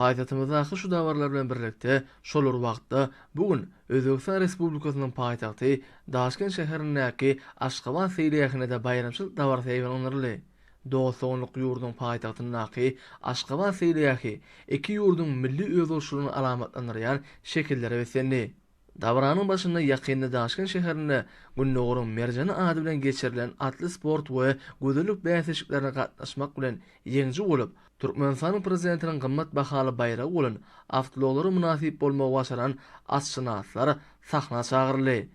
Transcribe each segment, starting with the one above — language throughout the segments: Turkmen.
Paýtagtymyzdaky şu dabaralar bilen birlikde, şol bir wagtda, bu gün Özbegistan Respublikasynyň paýtagty Daşkent şäherindäki Aşgabat seýilgähinde-de baýramçylyk dabarasy ýaýbaňlandyryldy. Dost-doganlyk ýurdunyň paýtagtyndaky Aşgabat seýilgähi iki ýurduň milli özboluşlylygyny alamatlandyrýan şekillere beslendi. Dabaranyň başynda ýakynda Daşkent şäherinde Gündogaryň merjeni ady bilen geçirilen atly sport we gözellik bäsleşiklerine gatnaşmak bilen ýeňiji bolup, Türkmenistanyň Prezidentiniň gymmat bahaly baýragy bolan awtoulaglary mynasyp bolmagy başaran atşynaslar sahna çagyryldy.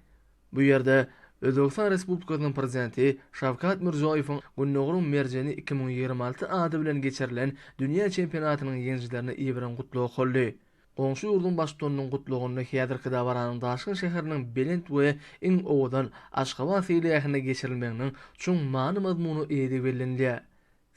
Bu ýerde Özbegistan Respublikasynyň Prezidenti Şawkat Mirziýoýewiň Gündogaryň merjeni iki müň ýigrimi alty ady bilen geçirilen dünýä çempionatynyň ýeňijilerine iberen gutlagy okaldy. Goňşy ýurduň Baştutanynyň gutlagynda häzirki dabaranyň daşgyn şäheriniň belent we iň owadan Aşgabat seýilgähinde geçirilmeginiň çuň many-mazmuna eýedigi bellenilýär.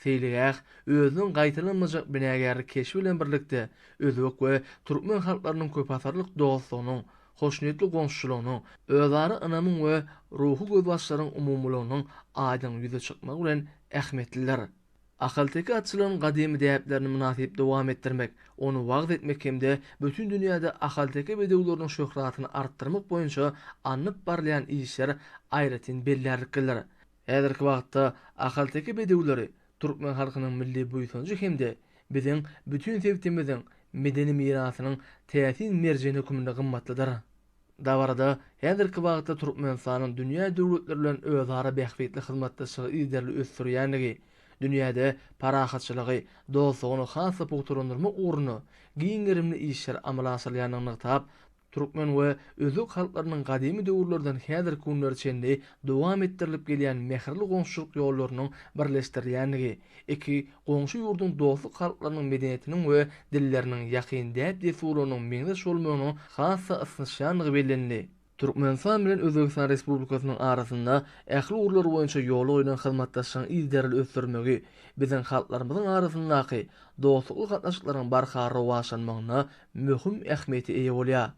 Seýilgäh özüniň gaýtalanmajak binagärlik keşbi bilen birlikde, özbek we türkmen halklarynyň köpasyrlyk dostlugynyň, hoşniýetli goňşuçylygynyň, özara ynamyň we ruhy gözbaşlaryň umumylygynyň aýdyň ýüze çykmagy bilen ähmiýetlidir. Ahalteke atçylygynyň gadymy däplerini mynasyp dowam etdirmek, ony wagyz etmek hem-de bütin dünýäde ahalteke bedewleriniň şöhratyny artdyrmak boýunça alnyp barylýan işler aýratyn bellärliklidir. Häzirki wagtda ahalteke bedewleri türkmen halkynyň milli buýsanjy hem-de biziň bütin sebitimiziň medeni mirasynyň täsin merjeni hökmünde gymmatlydyr. Dabarada häzirki wagtda Türkmenistanyň dünýä döwletleri bilen özara bähbitli hyzmatdaşlygy yzygiderli ösdürýändigi, dünýäde parahatçylygy, dostlugyny has-da pugtalandyrmak ugrunda giň gerimli işler amala aşyrylýandygyny nygtap, türkmen we özbek halklarynyň gadymy döwürlerden häzirki günlere çenli dowam etdirilip gelýän mähirli goňşuçylyk ýollarynyň birleşdirilýändigi, Iki goňşy ýurduň dostluk halklarynyň medeniýetiniň we dilleriniň ýakyn däp-dessurlarynyň meňzeş bolmagynyň has-da ysnyşýandygy bellenildi. Türkmenistan bilen Özbegistan Respublikasynyň arasynda ähli ugurlar boýunça ýola goýlan hyzmatdaşlygyň yzygiderli ösdürilmegi biziň halklarymyzyň arasyndaky dostlukly gatnaşyklaryň barha rowaçlanmagyna möhüm ähmiýete eýe bolýar.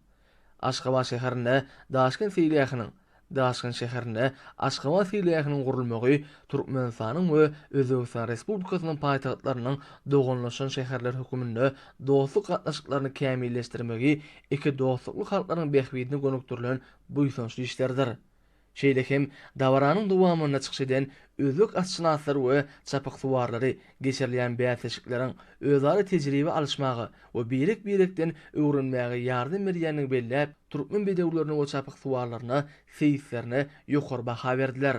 Aşgabat şäherinde Daşkent seýilgähiniň, Daşkent şäherinde Aşgabat seýilgähiniň gurulmagy Türkmenistanyň we Özbegistan Respublikasynyň paýtagtlarynyň doganlaşan şäherler höküminde dostluk gatnaşyklaryny kämilleşdirmegi iki dostlukly halklaryň bähbidine gönükdirilen buýsançly işlerdir. Şeýle hem, dabaranyň dowamynda çykyş eden özbek atşynaslary we çapyksuwarlary geçirilýän bäsleşikleriň özara tejribe alyşmaga we birek-birekden öwrenmäge ýardam berýändigini belläp, türkmen bedewlerine we çapyksuwarlaryna, seýislerine ýokary baha berdiler.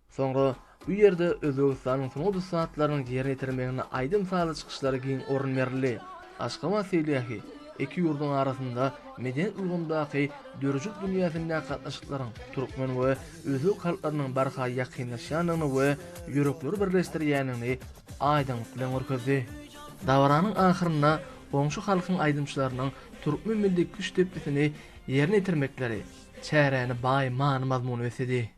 Soňra. Bu ýerde Özbegistanyň sungat ussatlarynyň ýerine ýetirmeginde aýdym-sazly çykyşlara giň orun berildi. Aşgabat seýilgähi iki ýurduň arasynda medeniýet ulgamdaky döredijilik dünýäsindäki gatnaşyklaryň türkmen we özbek halklarynyň barha ýakynlaşýandygyny we ýürekleri birleşdirýändigini aýdyňlyk bilen görkezdi. Dabaranyň ahyrynda goňşy halkyň aýdymçylarynyň türkmen milli küşt depgisini ýerine ýetirmekleri çäräni baý many-mazmuna besledi.